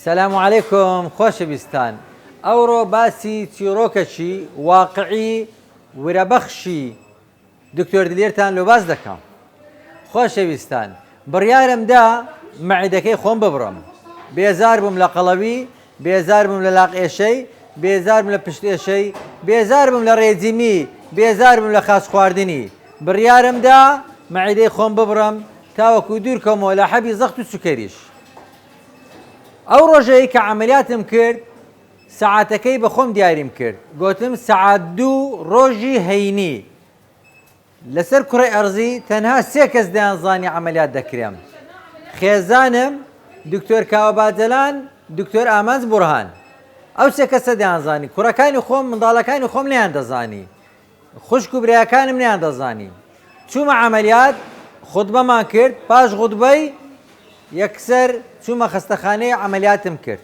سلام علیکم خۆشەویستان ئەوڕۆ باسی چیڕۆکەکی واقعی ورەبەخشی دکتۆر دلێرتان لۆ باس دەکەم خۆشەویستان بڕیارم دا مەعیدەکەی خۆم ببڕم بێزار بووم لە قەڵەوی بێزار بووم لە لاق ئێشەی بێزار بووم لە پشت ئێشەی بێزار بووم لە ڕێجیمی بێزار بووم لە خاچ خواردنی بڕیارم دا مەعیدەی خۆم ببڕم تاوەکو دوور کەومەوە لە حەبی زەخت و سوکەریش ئەو ڕۆژەی کە عەمەلیاتم کرد سەعاتەکەی بە خۆم دیاریم کرد گۆتم سەعات دوو ڕۆژی هەینی لەسەر کوڕی ئەرزی تەنها سێ کەس دەیانزانی عەمەلیات دەکرێم خێزانم دکتۆر کاوە باجەلان دکتۆر ئامانج بورهان ئەو سێ کەسە دەیانزانی کوڕەکانی خۆم منداڵەکانی خۆم نیان دەزانی خوشک و براکانم نەیان دەزانی چومە عەمەلیات خوتبەمان کرد پاش غوتبەی یەکسەر چومە خەستەخانەی عەمەلیاتم کرد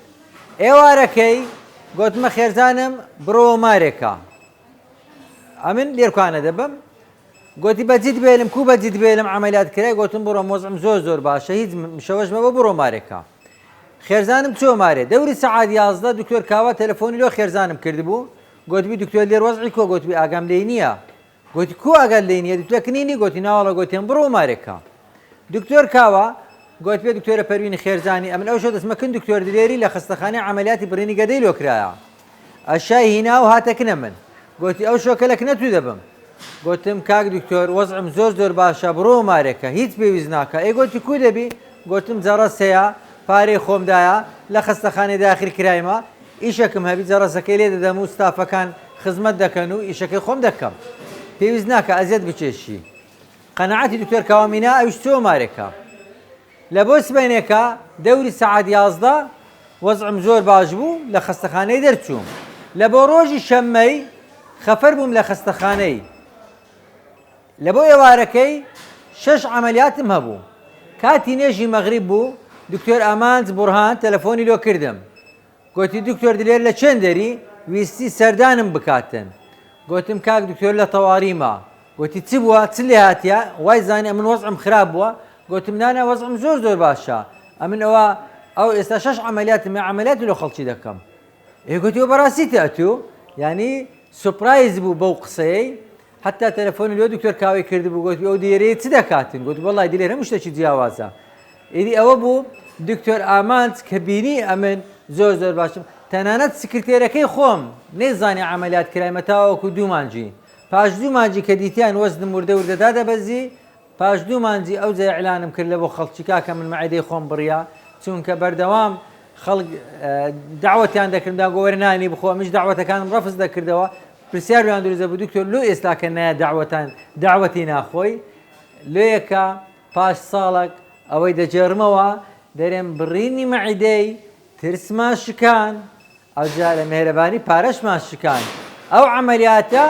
ئێوارەکەی گۆتمە خێرزانم برۆوە مارێکا ئەمن لێرکانە دەبم گۆتی بەجد بێلم کو بەجد بێلم عملیات کرای گۆتم بڕۆ مۆزم زۆر زۆر باشە هیچ شەوەش مەبە بڕۆ مارێکە خێرزانم چۆ مارێ دەوری سەعاد یازدە دکتۆر کاوا تەلەفۆنی لۆ خێرزانم کردبوو گۆتبی دکتۆر لێر وەزعی کۆ گۆتبی ئاگام لێی نییە گۆتی کو ئاگات لێی نییە دکتۆر کنینی گۆتی ناوەڵە گۆتێن بڕۆ مارێک کە دکتۆر کاوە گۆت پێ دکتۆرە پەروینی خێرزانی ئەمن ئەوشە دەستمە کن دکتۆر دلێری لە خستەخانەی عملیاتی بڕینی گەدەی لۆ کرایە ئەشای هینا و هاتەکنە من گۆتی ئەو شۆکە لەکنە تو دەبم گۆتم کاک دکتۆر وەزعم زۆر زۆر باشە بڕۆ مارێکە هیچ پێویست ناکە ئەی گۆتی کو دەبی گۆتم جەڕەسەیە پارەی خۆمدایە لە خستەخانەی داخل کرایمە ئیشەکم هەبی جەڕەسەکەی لێ دەدەم و ستافەکان خزمەت دەکەن و ئیشەکەی خۆم دەکەم پێویست ناکە ئەزیەت بکێشی قەناعەتی دکتۆر کاوە مینا ئەویش سۆمارێکە لە بۆ سبەینێکە دەوری سەعات یازدە وەزعم زۆر باش بوو لە خەستەخانەی دەرچووم لە بۆ ڕۆژی شەممەی خەفەر بووم لە خەستەخانەی لە بۆ ئێوارەکەی شەش عەمەلیاتم هەبوو، کاتی نوێژی مەغریب بوو، دکتۆر ئامانج بورهان تەلەفۆنی لۆ کردم، گۆتی دکتۆر دلێر لە چێندەری ویستی سەردانم بکاتن، گۆتم کاک دکتۆر لە تەواریمە، گۆتی چ بووە چ لێ هاتیە وای زانی ئەمن وەزعم خراپ بووە، گۆتم نا نا وەزعم زۆر زۆر باشە، ئەمن ئەوە ئەو ئێستا شەش عەمەلیاتم هەیە عەمەلیاتی لۆ خەڵکی دەکەم، ئێ گۆتی وە بەراستی تئتوو، یانی سوپرایز بوو بەو قسەیەی، حەتتا تەلەفۆنم لۆ دکتۆر کاوەی کردبوو گۆتی ئەو دێرەیە چ دەکاتن گوت وەڵی دلێر هەموو شتێکی جیاوازە ئیدی ئەوە بوو دکتۆر ئامانج کە بینی ئەمن زۆر زۆر باشم تەنانەت سکرتێرەکەی خۆم نەیزانانی ئەعملیات کرایمە تاوەکو دوومانجی پاش دوومانجی کە دیتیان وەزنم وردە وردەدا دەبەزی پاش دوومانجی ئەو جای ئەلانم کرد لە بۆ خەڵکی کاکە من مەعدەی خۆم بڕە چونکە بەردەوام خەڵک داوەتیان دەکرددا گۆوەرنانی بخۆ منش داوەتەکانم ڕفز دەکردەوە پرسیار لۆیان دروست دەبوو دکتۆر لۆ ئێستا کە نایە دەعوەتان دەعوەتی ناخۆی؟ لۆیە کە پاش ساڵەک ئەوەی دەگێڕمەوە دەرێم بڕینی مەعیدەی ترسمان شکان ئەوجا لە مێهرەبانی پارەشمان شکان ئەو عەمەلیاتە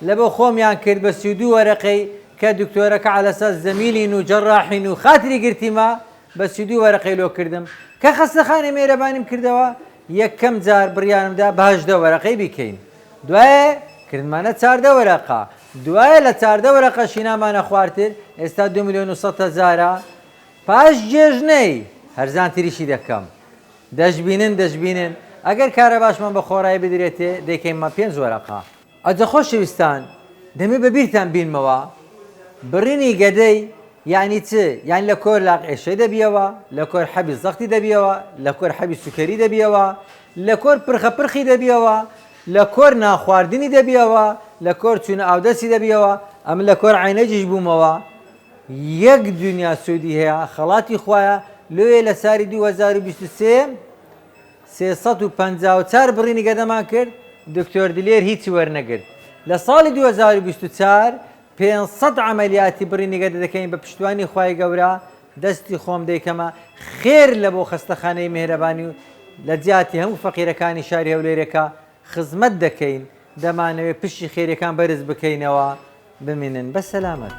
لە بۆ خۆمیان کرد بە سی و دوو وەرەقەی کە دکتۆرە کە عەلەساس زەمیلین و جەڕاحین و خاتری گرتیمە بە سی و دوو وەرەقەی لۆ کردم کە خەستەخانەی مێهرەبانیم کردەوە یەکەم جار بڕیارم دا بە هەژدە وەرەقەی بیکەین دوایێ کردمانە چاردە وەرەقە دوایێ لە چاردە وەرەقەشی نامانە خوارتر ئێستا دوو ملیۆن و سەد هەزارە پاش جێژنەی هەرزان تریشی دەکەم دەشبینن دەشبینن ئەگەر کارەباشمان بە خۆرای بدرێتێ دەیکەیمە پێنج وەرەقە. ئەجە خۆشەویستان دەمێ بە بیرتان بینمەوە بڕینی گەدەی یانی چ یانی لە کۆر لاق ئێشەی دەبیەوە لە کۆر حەبی زەختی دەبیەوە لە کۆر حەبی سوکەری دەبیەوە لە کۆر پرخە پرخی دەبیەوە لە کۆر نانخواردنی دەبیەوە لە کۆر چوونە ئاودەستی دەبیەوە ئەمن لە کۆر عەینەجیش بوومەوە یەک دونیا سوودی هەیە خەڵاتی خوایە لۆیێ لە ساری دوو هەزار و بیست و سێ سێ سەد و پەنجا و چوار بڕینی گەدەمان کرد، دکتۆر دلێر هیچی وەرنەگرت. لە ساڵی دوو هەزار و بیست و چوار پێنج سەد عەمەلیاتی بڕینی گەدە دەکەین بە پشتیوانی خوای گەورە دەستی خۆم دەیکەمە خێر لە بۆ خەستەخانەی میهرەبانی و لە جیاتی هەموو فەقیرەکانی شاری هەولێرێکە خزمەت دەکەین دەمانەوێت پشی خێریەکان بەرز بکەینەوە بمینن بە سەلامەت.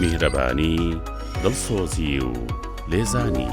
میهرەبانی دڵسۆزی و لێزانی.